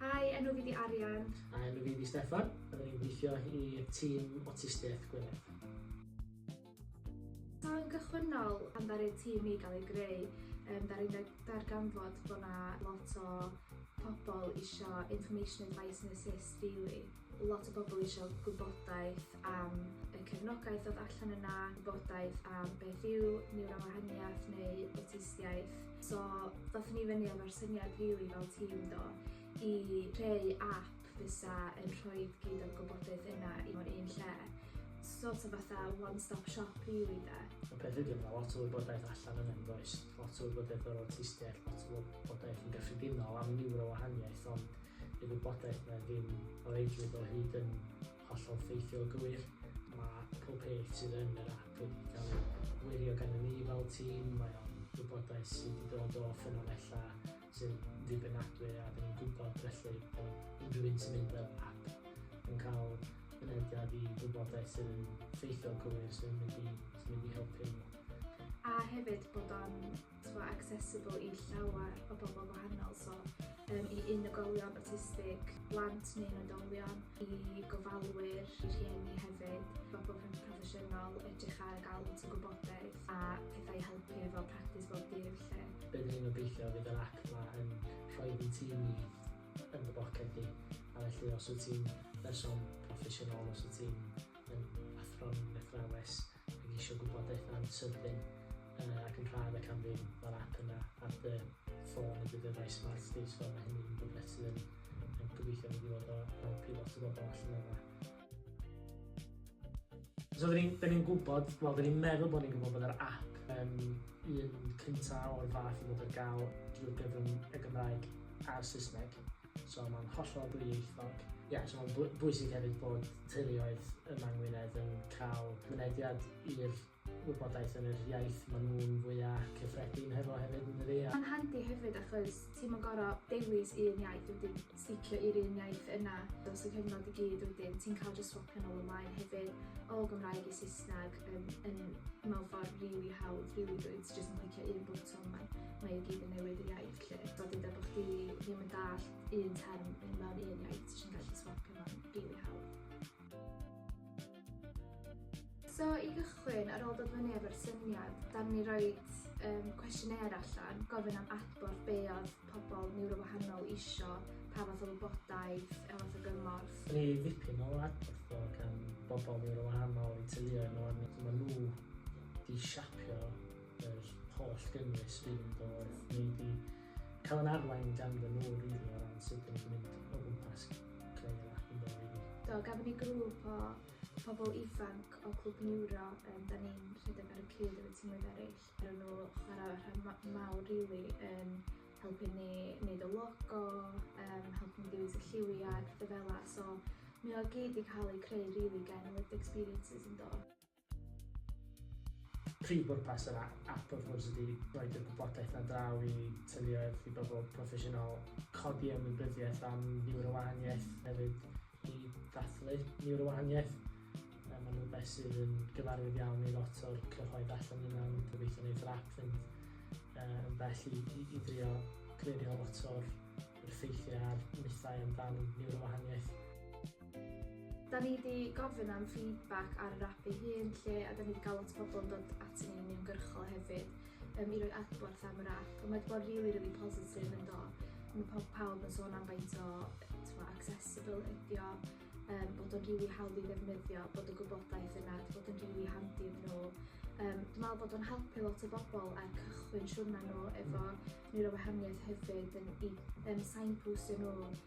Hi, enw fi di Arian. A enw fi di Steffan. Rydyn ni'n gweithio i tîm Awtistiaeth Gwynedd. Mae'n gychwynnol am ddaru'r tîm i gael ei greu. Um, Dar i'n darganfod bod yna lot o pobl eisiau information advice and assist really. Lot o bobl isio gwybodaeth am y cefnogaeth oedd allan yna, gwybodaeth am beth yw niwrowahaniaeth neu awtistiaeth. So ddothon ni fyny efo'r syniad rili fel tîm do, i creu ap fysa yn rhoi gyd o'r gwybodaeth yna i mewn un lle. Sort of fatha one stop shop rili de. Y peth ydi ma' 'na lot o wybodaeth allan yna yn does? Lot o wybodaeth o'r awtistiaeth, lot o wybodaeth yn gyffredinol am niwrowahaniaeth ond Dyw gwybodaeth na ddim o reidrwydd o hyd yn hollol ffeithiol o gywir. Mae pob peth sydd yn yr ap wedi cael ei wirio gennym ni fel tîm. Mae o'n wybodaeth sydd wedi dod o ffynonellau sy'n ddibynadwy a dyn ni'n gwybod felly bod unrhyw un sy'n mynd fel ap yn cael mynediad i wybodaeth sydd yn ffeithiol gywir sy'n mynd i, sy'n mynd i helpu nhw. A hefyd bod o'n t'mo' accessible i llawer o bobol gwahanol so yym i unigolion awtistig, blant neu'n oedolion, i gofalwyr, i rhieni hefyd, bobol pr- proffesiynol edrych ar ga'l lot o gwybodaeth a pethau i helpu efo practis bob dydd 'lly. Be' 'dyn ni'n obeithio fydd yr ap 'ma yn rhoid i ti yn dy boced di a felly os wyt ti'n berson proffesiynol os wyt ti'n yym athro'n athrawes Dw i isio gwybodaeth am symthing yy ac yn rhad ac am ddim, mae'r app yna ar dy ffôn neu dy ddyfais smart di so mae hynny'n mynd yn brysur ond gobeithio fydd i fod o help i lot o bobl allan yna. So dyn ni'n dyn ni'n gwybod, wel dyn ni'n meddwl bod ni'n gwybod bod yr app yn un cynta o'r fath i fod ar gael drwy gyfrwng y Gymraeg a'r Saesneg. So mae'n hollol ddwyieithog. Ie, yeah, so mae'n bwysig hefyd bod teuluoedd yma yng Ngwynedd yn cael mynediad i'r wybodaeth yn yr iaith maen nhw'n fwyaf cyffredin hefo hefyd yn dydi? Mae'n handi hefyd achos ti'n mynd gorau dewis un iaith wedyn sticio i'r un iaith yna dros y cyfnod i gyd wedyn ti'n cael just swapio nôl ymlaen hefyd o Gymraeg i Saesneg yn, yn mewn ffordd rili really hawdd, rili really dwyt, just yn clicio un bwtwm mae, mae i gyd yn newid y iaith. Lle eto dyda bod chdi ddim yn dallt un term yn mewn un iaith, ti eisiau gallu swapio mewn rili hawdd. So i gychwyn, ar ôl dod fyny efo'r syniad, da ni roi um, cwestiynau allan, gofyn am adborth be oedd pobl niwro wahanol isio, pa fath o wybodaeth, pa fath o gymorth. Ni ddipyn o adborth o gan bobl niwro wahanol i teuluoedd nhw, a mae nhw di siapio yr holl gynnwys fydd yn dod neu di cael yn arwain gan fy nhw rili o ran sut dyn ni'n mynd o gwmpas creu yr app yn dod rili. Do, gafon ni grŵp o pobl ifanc o Clwb Niwro yym 'dan ni'n rhedeg ar y cyd efo tîmoedd eraill. Ro'n nhw chwarae rhan ma- mawr rili yn helpu ni neud y logo yym helpu ni dewis y lliwiau a petha fela so mae o gyd 'di cael ei creu rili gen Lived Experiences yn do? Prif bwrpas yr ap wrth gwrs ydy rhoid y gwybodaeth 'na draw i teuluoedd, i bobl proffesiynol, codi ymwybyddiaeth am niwrowahaniaeth hefyd i ddathlu niwrowahaniaeth. Mae nhw'n rhywbeth sydd yn gyfarwydd iawn i lot o'r cyhoedd allan yna, ond gobeithio wneith yr ap fynd yn bell i, i, i drio clirio lot o'r ffeithiau a'r mythau amdan niwrowahaniaeth. Da ni 'di gofyn am feedback ar yr ap ei hun 'lly a 'da ni 'di ga'l lot o bobl yn dod aton ni yn uniongyrchol hefyd yym i roi adborth am yr ap a mae 'di bod rili rili positif yn do? Ma' pob- pawb yn sôn am faint o t'mo' accessible ydi o yym bod o'n rili hawdd i ddefnyddio bod y gwybodaeth yna 'di bod yn rili handi iddyn nhw. Yym dwi me'wl bod o'n helpu lot o bobl ar cychwyn siwrna nhw efo niwrowahaniaeth hefyd yn i yym signpostio nhw